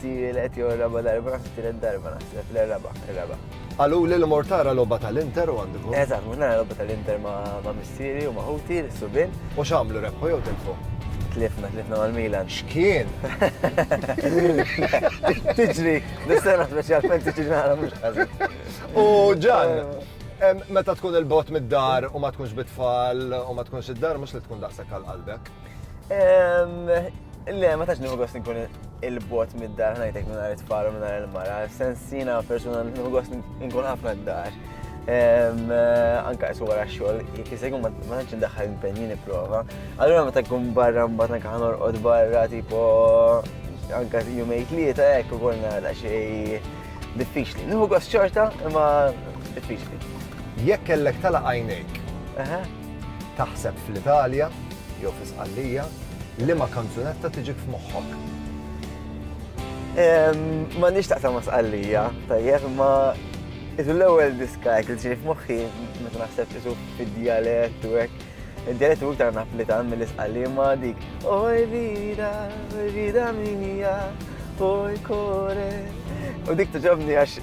Tielet jew raba darba, naħseb tielet darba naħseb, le raba, raba. Għalu li l-mor tara lobba tal-Inter u għandu. Eżatt, mur nara lobba tal-Inter ma' missieri u ma' ħuti, l-subin. U xamlu rebħu jew tilfu? Tlifna, tlifna mal-Milan. X'kien? Tiġri, dis-sena speċjalment tiġri nara mhux ħażin. U ġan, meta tkun il-bot mid-dar u ma tkunx bitfall u ma tkunx id-dar mhux li tkun daqshekk għal qalbek. Le, ma tax nħu gost nkun il-bot mid-dar ħnajtek minn għar it-tfal u minn għar il-mara. Sensina persuna nħu gost nkun ħafna d-dar. Anka jsu għara xol, jekizegħu ma tax ndaħħal impenjini prova. Allora ma takkun barra mbatna kħan orqod barra tipo anka jumejt li ta' ekk u għolna da xej diffiċli. Nħu gost xorta, ma diffiċli. Jekk kellek tala għajnejk Taħseb fl-Italja, jew fi Sqallija, liema kanzunetta tiġik f'moħħok? Ma nix taqsam ma Sqallija, tajjeb, ma isu l-ewwel diska hekk li tiġi f'moħħi meta naħseb isu fid-dialett u hekk Ġeret u iktar naplitan mill-isqalli ma dik. Oj vida, vida minija, oj kore. U dik tuġobni għax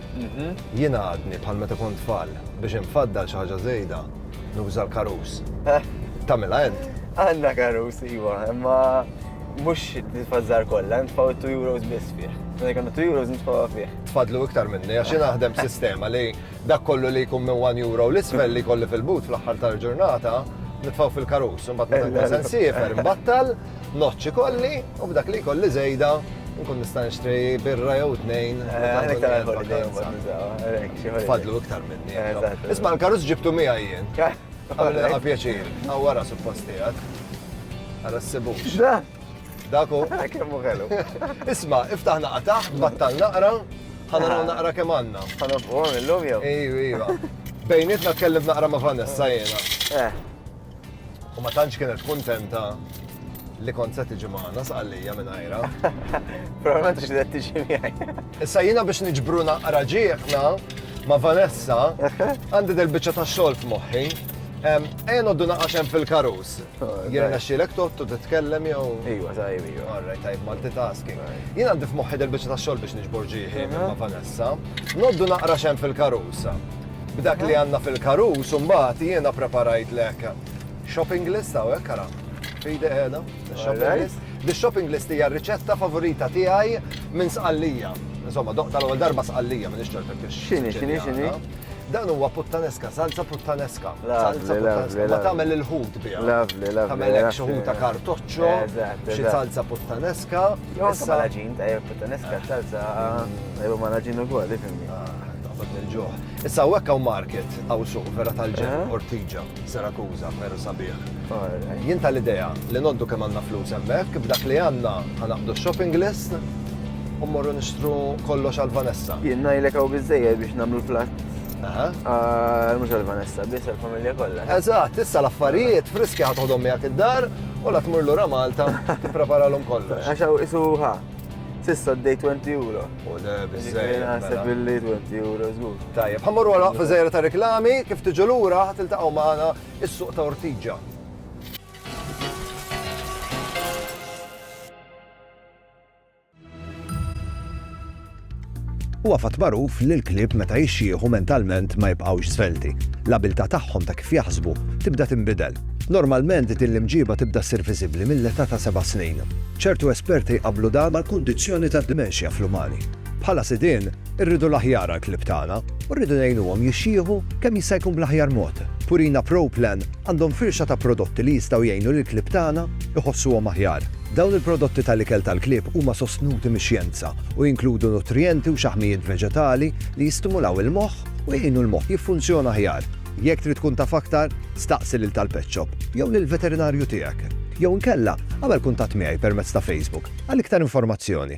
Jiena għadni bħal meta kont tfal, biex infaddal xi ħaġa żejda, nuża l-karus. Tagħmilha int? Għandna karus, iva, imma mhux tfażżar kollha, nitfgħu 2 euros biss fih. Meta jkollna 2 euros nitfgħuha fih. Tfadlu iktar minni, għax jiena naħdem b'sistema li dak kollu li jkun minn 1 euro l-isfel li jkolli fil-but fl-aħħar tal-ġurnata, nitfgħu fil-karus, imbagħad meta nkun se nsiefer, nbattal, Noċċi kolli u b'dak li kolli żejda nkun nista' nixtri birra jew tnejn. Fadlu iktar minni. Isma' l-karus ġibtu miegħi jien. Għamilha pjaċir, għawara supposti għad. Għara s-sibux. Daku. Kemmu għelu. Isma, iftaħna qataħ, battal naqra, ħanaraw naqra kemm għandna. Ħanofqu illum jew? Ejju, ejju. Bejnietna tkellem naqra ma' Vanessa jena. Eh. U ma tantx kienet kuntenta li kont se tiġi magħna sqallija minn għajra. Probablement xi qed tiġi miegħi. Issa jiena biex niġbru naqra ġieħna ma' Vanessa għandi del biċċa ta' xogħol f'moħħi. Ejja noddu naqax hemm fil-karus. Oh, jiena xilek tottu titkellem jew. Iwa, tajb, iwa. Alright, tajb, multitasking. Jiena għandi f'moħħi del biċċa ta' xogħol biex niġbor ġieħi ma' Vanessa. Noddu naqra xem fil-karus. B'dak li għandna fil-karus imbagħad jiena preparajtlek shopping list hawnhekk ara. Fidi qiegħda, shopping list. Di shopping list hija r-riċetta favorita tiegħi minn sqallija. Insomma, doq tal-ewwel darba sqallija minn ix-xorb kif X'inhi, x'inhi, x'inhi? Dan huwa puttaneska, salza puttaneska. Salza puttaneska. Ma tagħmel il-ħut biha. Lovely, lovely. Tagħmel hekk xi ħuta kartoċċo, xi salza puttaneska. Issa ma naġin, tajja puttaneska, ċalza, tajja ma naġin u għol, ifimni. Taħseb nil-ġuħ. Issa u għekka u market, għaw suq, vera tal-ġen, eh? ortiġa, serakuza, vera sabiħ. Jien tal-ideja li noddu kemm għandna flus hemmhekk, b'dak li għandna ħanaqdu shopping list u morru nixtru kollox għal Vanessa. Jien ngħidlek hawn biżejjed biex nagħmlu platt Ah, mux għal-Vanessa, bis għal-familja kolla. Eżat, issa l-affarijiet friski ħatħodhom miegħek id-dar U la tmur lura Malta, tippreparalhom kollox. Għax hawn isu ħa. Sissa d-dej 20 euro. U le, bizzej. Naħseb billi 20 euro, żgur. Tajjeb, ħammur wara waqfa żejra ta' reklami, kif tiġu lura ħatiltaqgħu magħna is-suq ta' Ortiġa. Huwa fatt magħruf li l-klieb meta jixjieħu mentalment ma jibqgħux żvelti. L-abiltà tagħhom ta' kif jaħsbu tibda tinbidel. Normalment din l-imġiba tibda ssir viżibbli mill-età ta' seba' snin. Ċertu esperti jqabblu dan mal-kundizzjoni tad-dimenxja fl-umani. Bħala sidien, Irridu l-aħjar għall-klieb tagħna u rridu ngħinuhom jixjieħu kemm jista' jkun bl-aħjar mod. Purina Pro Plan għandhom firxa ta' prodotti li jistgħu jgħinu lill-klieb tagħna jħossuhom aħjar. Dawn il-prodotti tal-ikel tal-klieb huma sostnuti mix-xjenza u jinkludu nutrijenti u xaħmijiet veġetali li jistimulaw il-moħħ u jgħinu l-moħħ jiffunzjona aħjar. Jekk trid tkun taf aktar, staqsi lil tal-pet shop jew lill-veterinarju tiegħek. Jew inkella, agħmel kuntatt miegħi permezz ta' Facebook għal iktar informazzjoni.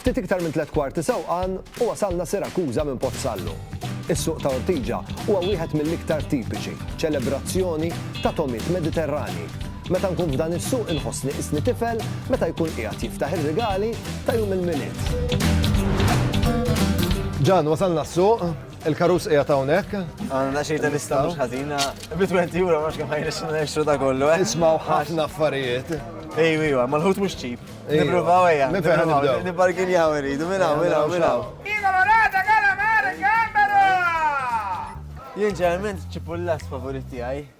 Ftit iktar minn tliet kwarti sewqan u wasalna Sirakuża minn Pozzallu. Is-suq ta' Ortiġa huwa wieħed mill-iktar tipiċi, ċelebrazzjoni ta' tomiet Mediterrani. Meta nkun f'dan is-suq inħossni isni tifel meta jkun qiegħed jiftaħ ir-rigali ta' jum il-milied. Ġan, wasalna s-suq, Il-karus qiegħed hawnhekk. Għandna xejn ta' lista mhux ħażina. Bi 20 euro ma kemm ħajnex nexxu ta' kollu. Eh? Ismaw ħafna affarijiet. Ej, ej, ma l-ħut mhux ċip. Nippruvaw ejja. Nibbarginjaw irridu minn hawn, minn hawn, minn hawn. Jien ġeneralment ċipullas favorit tiegħi.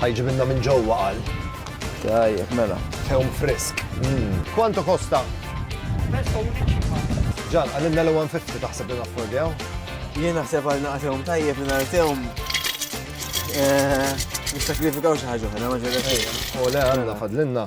Ħa jġibilna minn ġewwa qal. Tajjeb, mela. Tewm frisk. Quanto costa? Ġan, għalilna l-150 taħseb li naffordjaw? Jien naħseb għal naqtewm tajjeb li nartewm. Eh, Nistakrifikaw xi ħaġa oħra, ma ġejjek. U le għandna fadlinna.